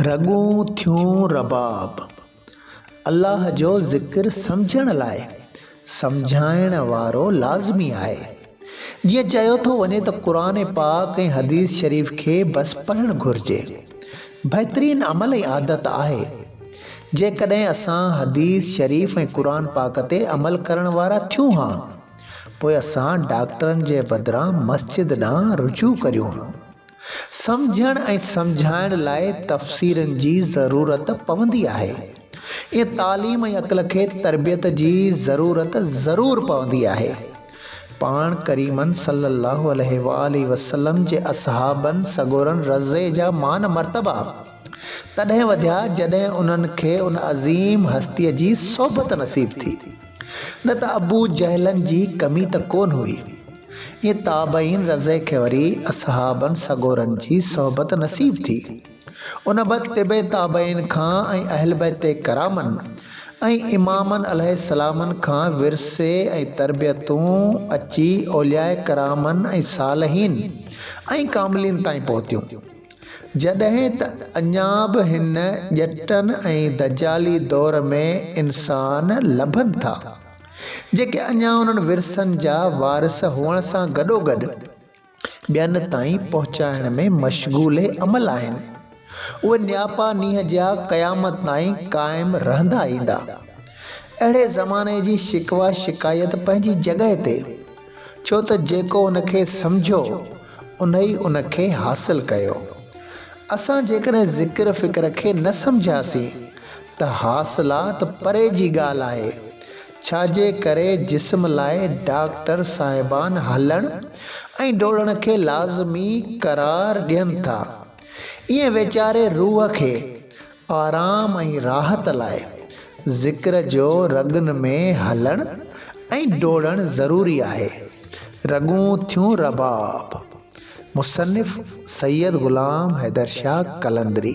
رڳون ٿيون رباب الله جو ذڪر سمجهڻ لاء سمجهائڻ وارو لازمي آهي. جيئن چيو ٿو وڃي ته قرآن پاڪ ۽ حديث شريف کي بس پڙهڻ گهرجي. بهترين عمل ۽ عادت آهي. جيڪڏهن اسان حديث شريف ۽ قرآن پاڪ تي عمل ڪرڻ وارا ٿيون ها پوء اسان ڊاڪٽرن جي بدران مسجد ڏانهن رجوع ڪريون ها. سمجهڻ ۽ سمجهائڻ لاء تفسيرن جي ضرورت پوندي آهي. ائين تعليم ۽ عقل کي تربيت جي ضرورت ضرور پوندي آهي. پاڻ ڪريمن صلّي اللّٰه عليه واٰله وسلّم جي اصحابن سڳورن رضي جا مان مرتبا تڏهن وڌيا جڏهن انهن کي ان عظيم هستيء جي صحبت نصيب ٿي. نه ته ابو جهلن جي ڪمي ته ڪونه هئي. ائين تابعين رضه کي وري اصحابن سڳورن جي صحبت نصيب ٿي. ان بعد تبع تابعين کان ۽ اهل بيت ڪرامن ۽ امامن عليه السلامن کان ورثي ۽ تربيتون اچي اولياء ڪرامن ۽ صالحين ۽ ڪاملين تائين پهتيون. جڏهن ته اڃا به هن ڄٽن ۽ دجالي دور ۾ انسان لڀن ٿا. جيڪي اڃا انهن ورثن جا وارث هئڻ سان گڏوگڏ ٻين تائين پهچائڻ ۾ مشغول عمل آهن، اهي نياپا نينهن جيا قيامت تائين قائم رهندا ايندا. اهڙي زماني جي شڪوه شڪايت پنهنجي جڳهه تي، ڇو ته جيڪو ان کي سمجهيو، انهي ان کي حاصل ڪيو. اسان جيڪڏهن ذڪر فڪر کي نه سمجهياسين ته حاصلا ته پري جي ڳالهه آهي، ڇا جي ڪري جسم لاء ڊاڪٽر صاحبان هلڻ ۽ ڊوڙڻ کي لازمي قرار ڏين ٿا، ائين ويچاري روح کي آرام ۽ راحت لاء ذڪر جو رڳن ۾ هلڻ ۽ ڊوڙڻ ضروري آهي. رڳون ٿيون رباب. مصنف سيد غلام حيدر شاهه قلندري.